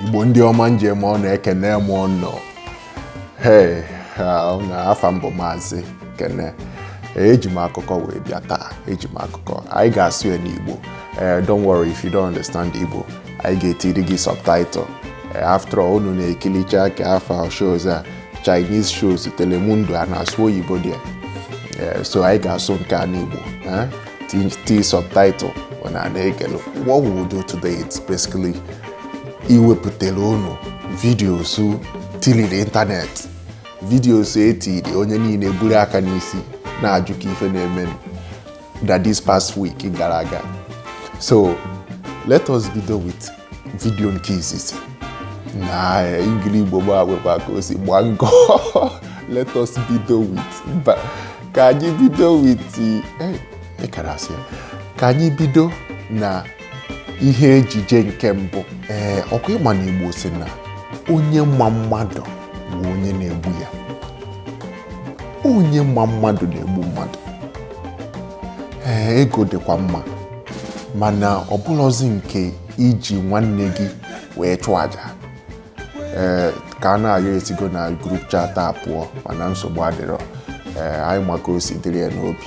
igbo ndị ọma ndeeme unu ekene m unu he na afa m bụ maazị kene eji m akụkọ wee bịa taa eji m akụkọ anyị ga-asụ ya n'igbo eh, don't worry if you don't understand igbo anyị ga-etiri gị subtitle Eh, after all unu na-ekilicha ka afọ shows a Chinese shows Telemundo a na-asụ oyibo there eh, so anyị ga-asụ nke a n'Igbo eh? tie subtitle unu ana-ekili what we will do today is basically iwepụtara unu videos tiliri ịntanetị videos e tiri onye niile buru aka n'isi na-ajụ ka ife na-eme that this past week gara aga. So let us bido with video nke izizi. Nna, Engligbo gbagba ka o si gba nkọ. Let us bido with. But ka anyị bido with the hey, a kara asị ka anyị bido na ihe ejije nke mbụ? Ee, ọ kwa ị ma na Igbo sị na onye ma mmadụ bụ onye na-egbu ya. onye ma mmadụ na-egbu mmadụ ee ego dịkwa mma mana ọ bụrọzi nke iji nwanne gị wee chụọ aja ee Kanayo esigo na group chat a pụọ mana nsogbu adịrọ ee anyị ma ka o si dịrị ya n'obi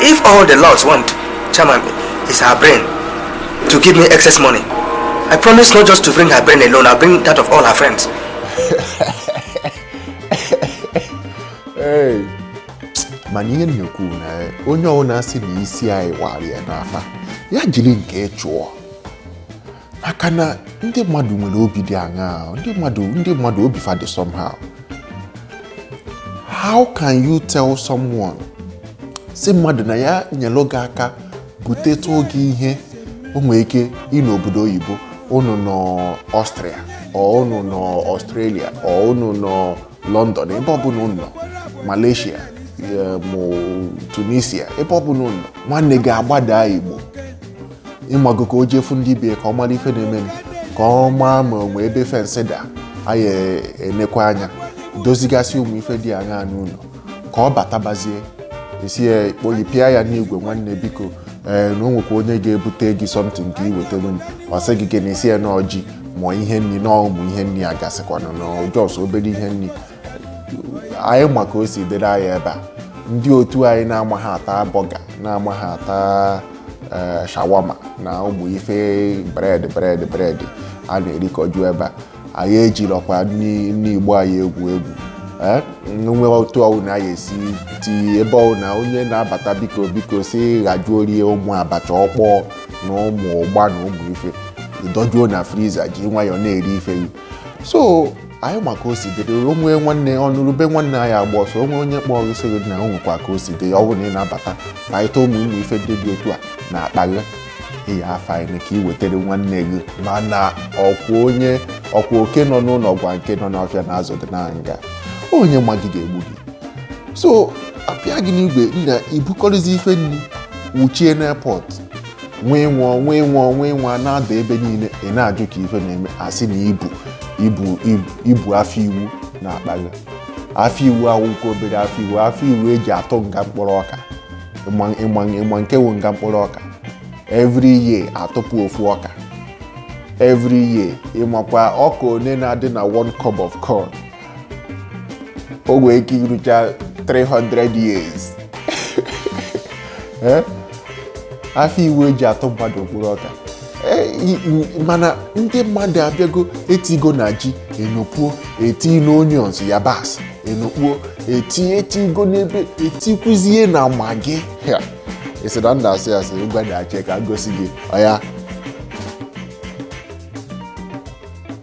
If all the lords want, Chairman, is her brain to give me excess money, I promise not just to bring her brain alone, I'll bring that of all her friends. hey. mana ihe na-ekwu na onye ọbụla sị na isi anyị wara ya n'afa ya jiri nke ya chụọ maka na ndị mmadụ nwere obi dị aṅaa ndị mmadụ ndị mmadụ obi fa dị somehow how can you tell someone sị mmadụ na ya nyelụ gị aka butetụọ gị ihe o nwere ike ị nọ obodo oyibo unu nọ Austria or unu nọ Australia or unu nọ London ebe ọbụla unu nọ Malaysia eh, ma Tunisia ebe ọbụla unu nọ nwanne gị agbada Igbo ị mago ka o je fụ ndị be ya ka ọ mara ife na-emenụ, ka ọ maa ma o nwe ebe fensị da anyị enekwa anya dozigasịa ụmụ ife dị aṅaa n'ụlọ ka ọ batabazie esi ya kpoyi pịa ya n'igwe nwanne biko ee na o nwekwa onye ga-ebute gị something ka i wetara m ọ sị gị gịnị ị sị ya na ọjị ma ihe nri na ụmụ ihe nri a gasịkwana na ọ just obere ihe nri anyị ma ka o si dịrị anyị ebe a ndị otu anyị na-amaha ata burger na-amaha ata eh, shawarma na ụmụ ife bread bread bread a na-erikọju ebe a anyị ejirọkwa nri nri Igbo anyị egwu egwu Eh, nwe otu ọwụna anyị esi ti ebe ọwụna onye na-abata biko biko si ghajuo rie ụmụ abacha okpo na ụmụ ụgba na ụmụ ife i dojuo na freezer ji nwayọọ na-eri ife gị so anyị ma ka o si dịrị onwe nwanne ọnụrụ ube nwanne ya agba ọsọ o nwe onye kpọọ gị sị gị na o nwekwa ka o si dị ya ọ bụrụ na ị na-abata ka anyị tọọ ụmụ ụmụ ife ndị dị otu a n'akpa gị ị ya-afanye ka ị wetara nwanne gị mana ọkwa onye ọkwa oke nọ n'ụlọ gwa nke nọ n'ọfịa na azụ dị na ngịga onye ma gị ga-egbu gị so apịa gị n'igwe nna i bukọrịzi ife nri wuchie n'airport nwee nwụọ nwee nwụọ nwee nwụọ na-ada ebe niile ị na-ajụ ka ife na-eme a sị na i bu i bu i bu afịa iwu n'akpa gị afịa iwu awụkwa obere afịa iwu afịa iwu e ji atụ nga mkpụrụ ọka ị ma nke wụ nga mkpụrụ ọka every year a tụpụ ofu ọka every year ị makwa ọka one na-adị na one cob of corn o nwee ike irucha 300 years Eh? afịa iwu e ji atụ mmadụ mkpụrụ ọka Eh, i- i- mana ndị mmadụ abịago etigo na ji enokpuo eti na onions yabasị enokpuo eti etigo n'ebe etikwuzie na Maggi Ya, ị sị na nna asị asị ngwa na-ache ka m gosi gị ọya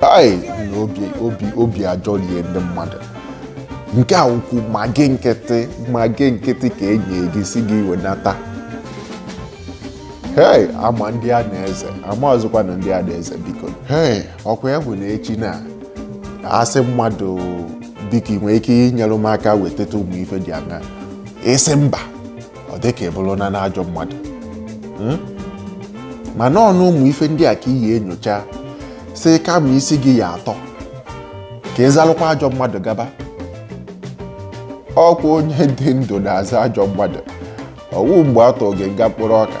hai na obi obi obi ajọrie ndị mmadụ nke a wụkwa Maggi nkịtị Maggi nkịtị ka enyi gị sị gị wenata hei ama ndị a na-eze amazịkwanụ ndị a na-eze biko hei ọkwa ya bụ na echi na a sị mmadụ biko ị nwere ike inyere m aka wetata ụmụ ife dị anya ị sị mba ọ dị ka ị bụrụna ajọ mmadụ hmm? mana ọ wụ ụmụ ife ndị a ka ị ya-enyocha sị kama isi gị ya-atọ ka ị zalụkwa ajọ mmadụ gaba ọkwa onye dị ndụ na-aza ajọ mmadụ ọ wụ mgbe a tụọ gị nga mkpụrụ ọka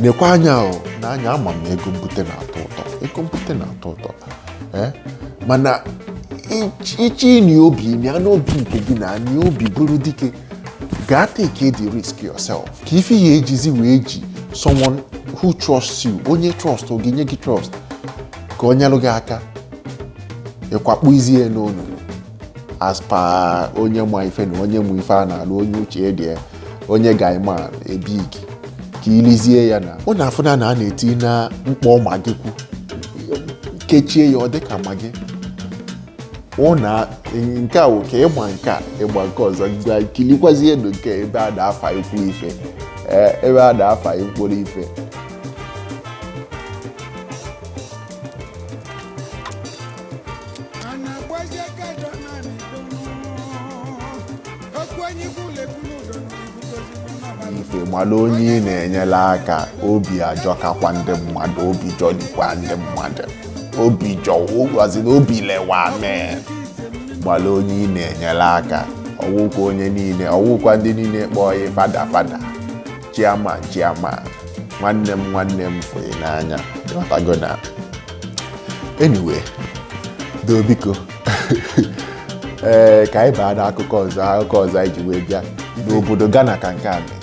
nekwa anya n'anya ama m na ego mbute na-atọ ụtọ ego mbute na-atọ ụtọ eh? mana iche ịnị obi ịnị anụ obi nke gị na anị obi bụrụ dike gaa take the risk yourself ka ife ya ejizi wee ji someone who trusts you onye trust ọ ga-enye gị trust ka ọ nyelụ gị aka ị kwakpuzie ya n'onu as per onye ma ife na onye ma ife a na-alụ onye uche dị onye ga-ama ebe gị kilizie ya na ọ na-afụ na a na-eti na mkpọ magị kwu kechie ya ọ dị ka magị ọ na nke a ka ịgba nke a ịgba nke ọzọ gwa kilikwazie ndụ nke ebe a na-afa ikwu ife eh, ebe a na-afa mkpụrụ ife Ana agbazi aka dọ naanị dọ Okwu onye ikwu lekwu n'ụdọ n'obibugozi n'ọnọbalụ ị mala onye ị na-enyela aka obi ajọkakwa ndị mmadụ obi jọlikwa ndị mmadụ obi jọ ụgwazi na obi lewa mee mala onye ị na-enyere aka ọ wụkwa onye niile ọ wụkwa ndị niile kpọọ gị fada fada chairman chairman nwanne m nwanne m fụ gị n'anya ị ghọtago na anyway doo biko ee ka anyị baa n'akụkọ ọzọ akụkọ ọzọ anyị ji wee bịa n'obodo Ghana ka nke a mee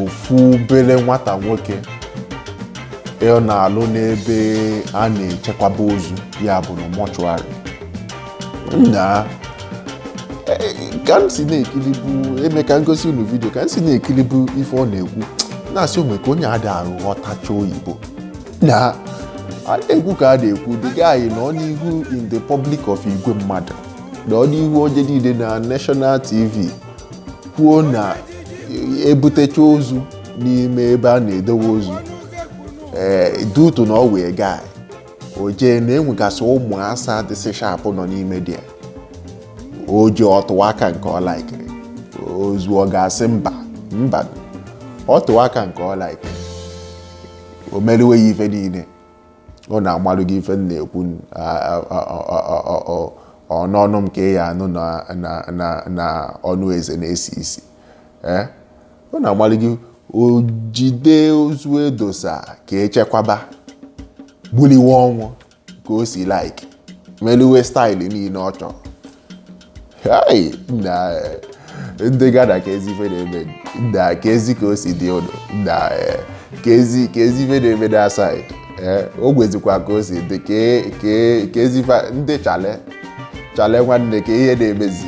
ofu obele nwata nwoke ọ na-alụ n'ebe a na-echekwaba ozu ya bụ na mortuary nna ka m si na-ekili bụ e me ka m gosi unu video ka m si na-ekili bụ ife ọ na-ekwu na-asị o nwe ka onye adarọ aghọtacha oyibo na a na-ekwu ka a na-ekwu the guy nọ n'ihu in the public of igwe mmadụ nọ n'ihu onye niile na national tv kwuo na e butecha ozu n'ime ebe a na-edowe ozu ee dutu na ọ wee gaa o jee na e nwegasị ụmụ asa dịsị sharp nọ n'ime there o ji ọ tụwa aka nke ọ laikiri ozu ọ ga-asị mba mba ọ tụwa aka nke ọ laikiri o meriwe ya ife niile ọ na-agwalụ gị ife na-ekwu ọ n'ọnụ m ka ị ya-anụ na ọnụ eze na-esi isi ee eh? Ọ na-agwali gị o jide ozu e dosa ka e chekwaba gbuliwe ọnwụ ka o si like meluwe style niile ọ chọrọ Hai, nna eh, ndị Ghana keezi ife na-eme nna keezi ka o si dị ụlọ nna eh, keezi keezi ife na-eme na side o gwezikwa ka o si dị kee- kee- keezi ife a- ndị chale chale nwanne kee ihe na-emezi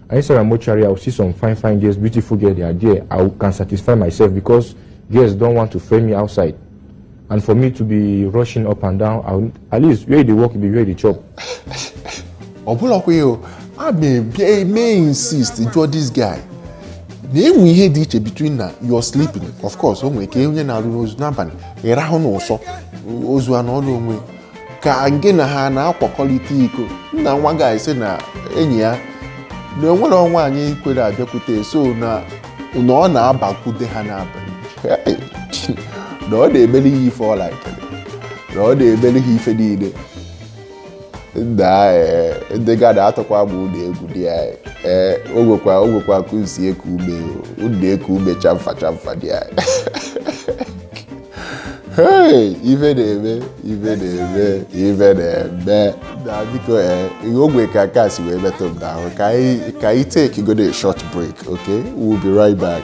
And inside the mortuary, I will see some fine fine girls, beautiful girls they are there. I can satisfy myself because girls don't want to friend me outside. And for me to be rushing up and down, I will, at least where they work, be where they chop. Ọ bụla kwa ya, I may insist jụọ this guy. na-enwe ihe dị iche between na you're sleeping of course o nwere ike onye na-arụ n'ozu n'abalị ịrahụ n'ụsọ ozu anụ ọnụ onwe ka gị na ha na-akwakọrịta iko nna nwa guy sị na enyi ya na enwere nwaanyị kwere abịakwute so na na ọ na-abakwute ha n'abalị Hey, na ọ na-emere ha ife ọla ekele na ọ na-emere ha ife niile nna ee, ndị Ghana atụkwa m ụjọ egwu dị ya ee o nwekwa o nwekwa ka unu si eku ume o, unu na-eku ume chamfa chamfa dị ya Hey, ife na-eme ife na-eme ife na-eme nna biko eh, ihe o nwe ka nke a si wee metụ m n'ahụ ka anyị ka anyị take go a short break okay we'll be right back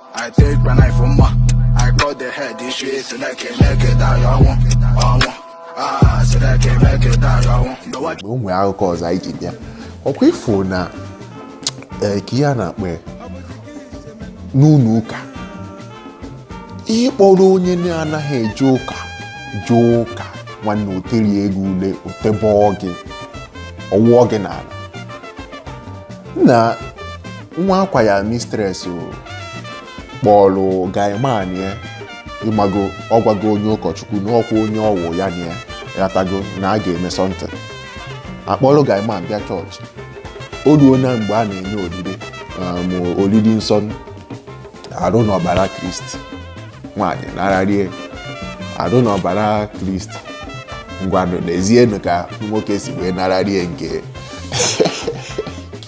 I take my knife for ma. I cut the head this shit so that can make it down your one. I want. Ah, so that can make it down your one. No one. o nwee akụkọ ọzọ anyị ji bịa ọkwa ịfụ na ee, ka ihe a na-akpọ ya n'ụlọ ụka ịkpọrọ onye na-anaghị eje ụka jee ụka nwanne oteri ego ule otebọọ gị ọwụọ gị n'ala na nwa akwa ya mistress kpọrọ guy man ya ịmago ọgwago onye ụkọchukwu n'ọkwa onye ọwụ ya na ya ghọtago na a ga-eme something ọ kpọrọ guy man bịa church o ruo na mgbe a na-enye oriri um, oriri nsọ arụ na ọbara kristi nwaanyị nararie arụ na ọbara kristi ngwanụ nezienụ ka nwoke si wee nararie nke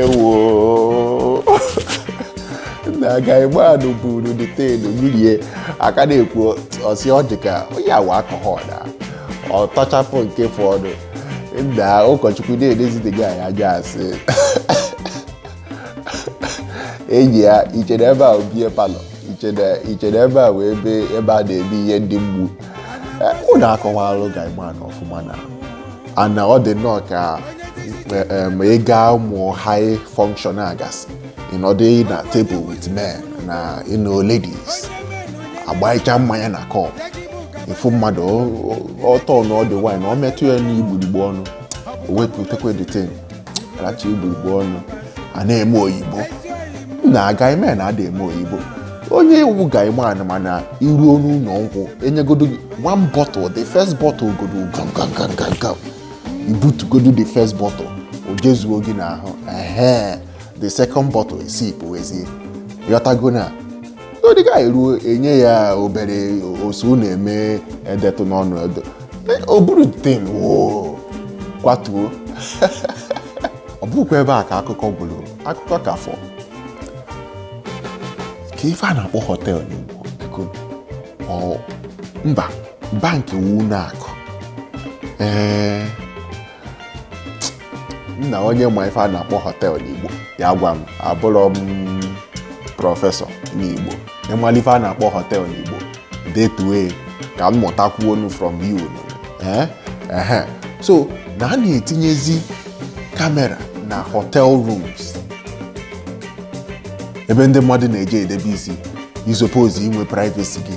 ewo nna guy man ahụ buru the thing ṅụrie a ka na-ekwu ọ sị ọ dị ka ihe a wụ alcohol nna ọ tọchapụ nke fọdụ nna ụkọchukwu na-elezide guy anya asị enyi a ichere ebe a beer parlour ichere ebe a wụ ebe a na-eme ihe ndị mgbu unu akọwalụ guy man ahụ ọfụma na nna ọ dị nnọọ ka eh, ma ị gaa ụmụ high function a ga-asị ịnọdụ na table with men na ịnọ ladies agbaicha mmanya na cup ịfụ mmadụ ọtọ na ọ dị wine ọ metụ ya n'igburigbo ọnụ o wepụtakwa the thing racha igburigbo ọnụ a na-eme oyibo nna guy man ada eme oyibo onye ị wụ guy man mana iruo n'ụlọ nkwụ enyegodo gị one bottle the first bottle godo gam gam gam gam gam ibutugodo the first bottle o jezuo gị n'ahụ ehe the second bottle isi pụwezie ghọtago na ndị dịka eruo enye ya obere osu na-eme edetụ n'ọnụ edo o buru tem woo kwatuo ọ bụkwa ebe a ka akụkọ gwụrụ akụkọ ka fọ kee ife a na-akpọ họtel n'Igbo biko ọ mba bankị wu ụlọ akụ ee nna onye ma ife a na-akpọ họteelụ n'Igbo ya gwa m abụrọ m prọfesọ n'Igbo ị mala ife a na-akpọ họteelụ n'Igbo detue ka m mụtakwuonụ from you eh? ehe so na a na-etinyezi kamera na hotel rooms ebe ndị mmadụ na-eje edebe isi ị suppose inwe privacy gị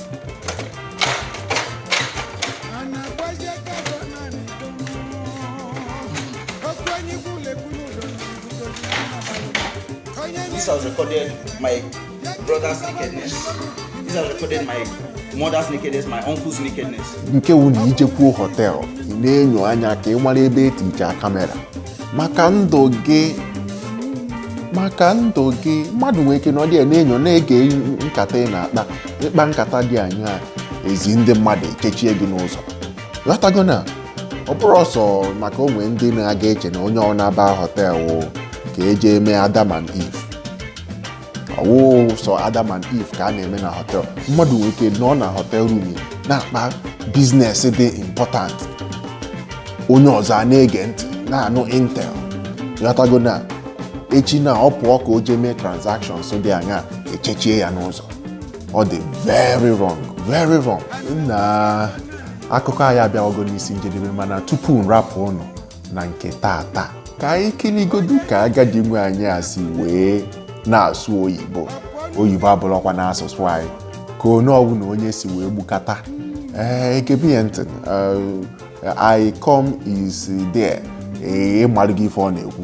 This has recorded my brother's nakedness. This has recorded my mother's nakedness, my uncle's nakedness. nke wu na ị jekwuo họtelụ ị na-enyo anya ka ị mara ebe eticha kamera maka ndụ gị maka ndụ gị mmadụ nwere ike nọdụ ya na-enyo na-ege nkata ị na-akpa ị kpaa nkata dị anyaa e zie ndị mmadụ echechie gị n'ụzọ ghọtago na ọ bụrọ sọ maka o nwe ndị na-aga eche na onye ọbụla ba họtelụ ka eje eme Adam and Eve ọ wụ sọ Adam and Eve ka a na-eme na họtel mmadụ nwere ike nọ na hotel room na-akpa business dị important onye ọzọ a na-ege ntị na-anụ intel ghọtago na echi na ọ pụọ ka o jee mee transactions dị anyaa echechie ya n'ụzọ ọ dị very wrong very wrong na akụkọ anyị abịawago n'isi njedebe mana tupu m rapụ unu na nke taata ka anyị kiligodu ka agadi nwaanyị a si wee na-asụ oyibo oyibo abụrọkwanụ asụsụ anyị ka onye ọbụla onye si wee gbukata ee gebe ya ntị I come is there ee ị malụgo ife ọ na-ekwu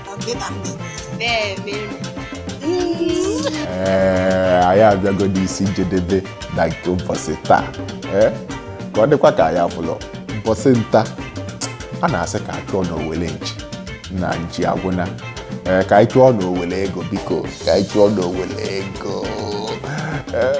ee anyị abịagodo isi njedebe na nke mbọsị taa ee ka ọ dịkwa ka anyị afụlọ mbọsị nta a na-asị ka a chụọ na owele nchi na nchi agwụna ee ka anyị chụọ na owele ego biko ka anyị chụọ na owele ego ee